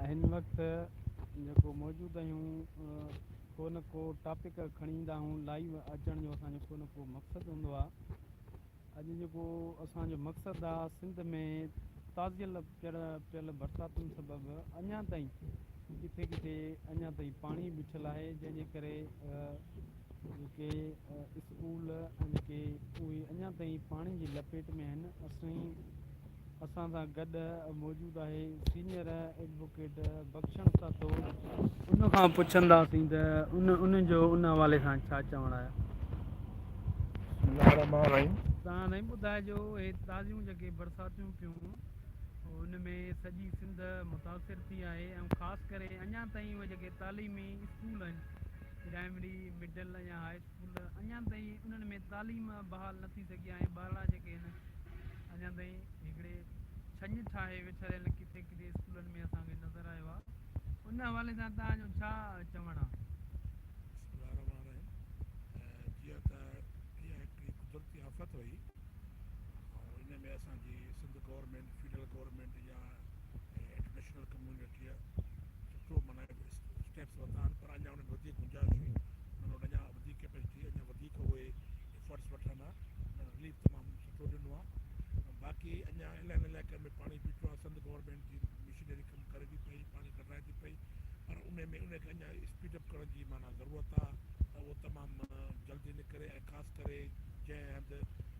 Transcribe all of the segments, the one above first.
هن وقت جيڪو موجود آهيون ڪو نه ڪو ٽاپڪ کڻي ايندا آهيون لائيو اچڻ جو اسانجو ڪو نه ڪو مقصد هوندو آ اڄ جيڪو اسانجو مقصد آ سنڌ ۾ تازيل پيل پيل برساتن سبب اڃا تائين ڪٿي ڪٿي اڃا تائين پاڻي بيٺل آهي جنهن جي ڪري جيڪي اسڪول جيڪي اهي اڃا تائين پاڻي جي لپيٽ ۾ آهن اسين اسان سان گڏ موجود آهي سينئر ايڊووڪيٽ بخشڻ سھتو ان کان پڇنداسين ته ان ان جو ان حوالي سان ڇا چوڻ آهي. بسم الله الرحمن الرحيم. تان سائين ٻڌائجو هي تازيون جيڪي برساتيون ٿيون ان ۾ سڄي سنڌ متاثر ٿي آهي ۽ خاص ڪري اڃان تائين اهي جيڪي تعليمي اسڪول آهن پرائمري مڊل يا هاء گل اڃان تائين انهن ۾ تعليم بحال نه ٿي سگهي آهي، ٻارڙا جيڪي هن اڃان تائين هڪڙي ڇڃ ٺاهي ويٺريل ڪٿي ڪٿي اسڪولن ۾ اسان کي نظر آيو آهي، ان حوالي سان توهان جو ڇا چوڻ آهي؟ بسم الله الرحمن الرحيم جيئن ته اها هڪڙي قدرتي آفت هئي ۽ ان ۾ اسان جي سنڌ گورنمينٽ فيڊرل گورنمينٽ يا انٽرنيشنل ڪميونٽيء سٺو معنيٰ اسٽيپس ورتا آهن پر اڃان انهن ۾ وڌيڪ گنجائش هئي انهن وٽ اڃان وڌيڪ ڪيپيسٽي هئي اڃان وڌيڪ اهي افرٽس وٺن ها انهن رليف تمام سٺو ڏنو آهي باقي اڃان الائن علائقن ۾ پاڻي بيٺو آهي سنڌ گورنمينٽ جي مشنري ڪم ڪري ٿي پئي پاڻي ڪڍرائي ٿي پئي پر ان ۾ ان کي اڃان اسپيڊ اپ ڪرڻ جي معنيٰ ضرورت آهي ته اهو تمام جلدي نڪري ۽ خاص ڪري جنهن هنڌ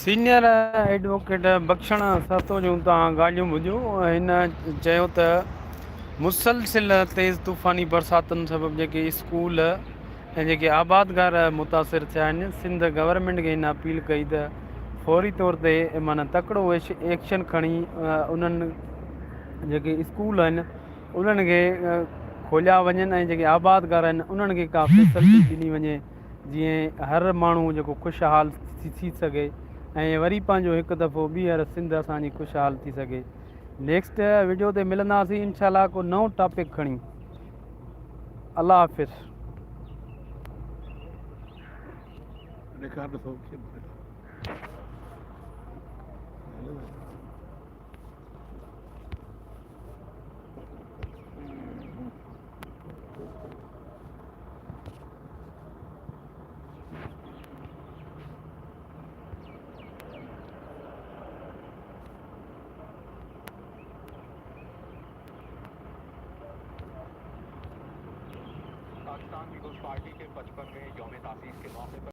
سينيئر ايڊووڪيٽ بخشڻ سهتو جون توهان ڳالهيون ٻڌيو هن چيو ته مسلسل تيز طوفاني برساتن سبب جيڪي اسڪول ۽ جيڪي آبادگار متاثر ٿيا آهن سنڌ گورنمنٽ کي هن اپيل ڪئي ته فوري طور تي معنی تڪڙو ايڪشن کڻي انهن جيڪي اسڪول آهن انهن کي کوليا وڃن ۽ جيڪي آبادگار آهن انهن کي ڪا فيسلٽي ڏني وڃي جيئن هر ماڻهو جيڪو خوشحال ٿي سگهي ۽ وري پنهنجو هڪ دفعو ٻيهر سنڌ اسان جي خوشحال ٿي سگهي نيڪسٽ ويڊيو تي ملنداسين انشاء الله ڪو نئون ٽاپڪ کڻي الله حافظ پاڪستان پيپلز پارٽي کي پچپن مين يوم تاسيس کي موقعي پر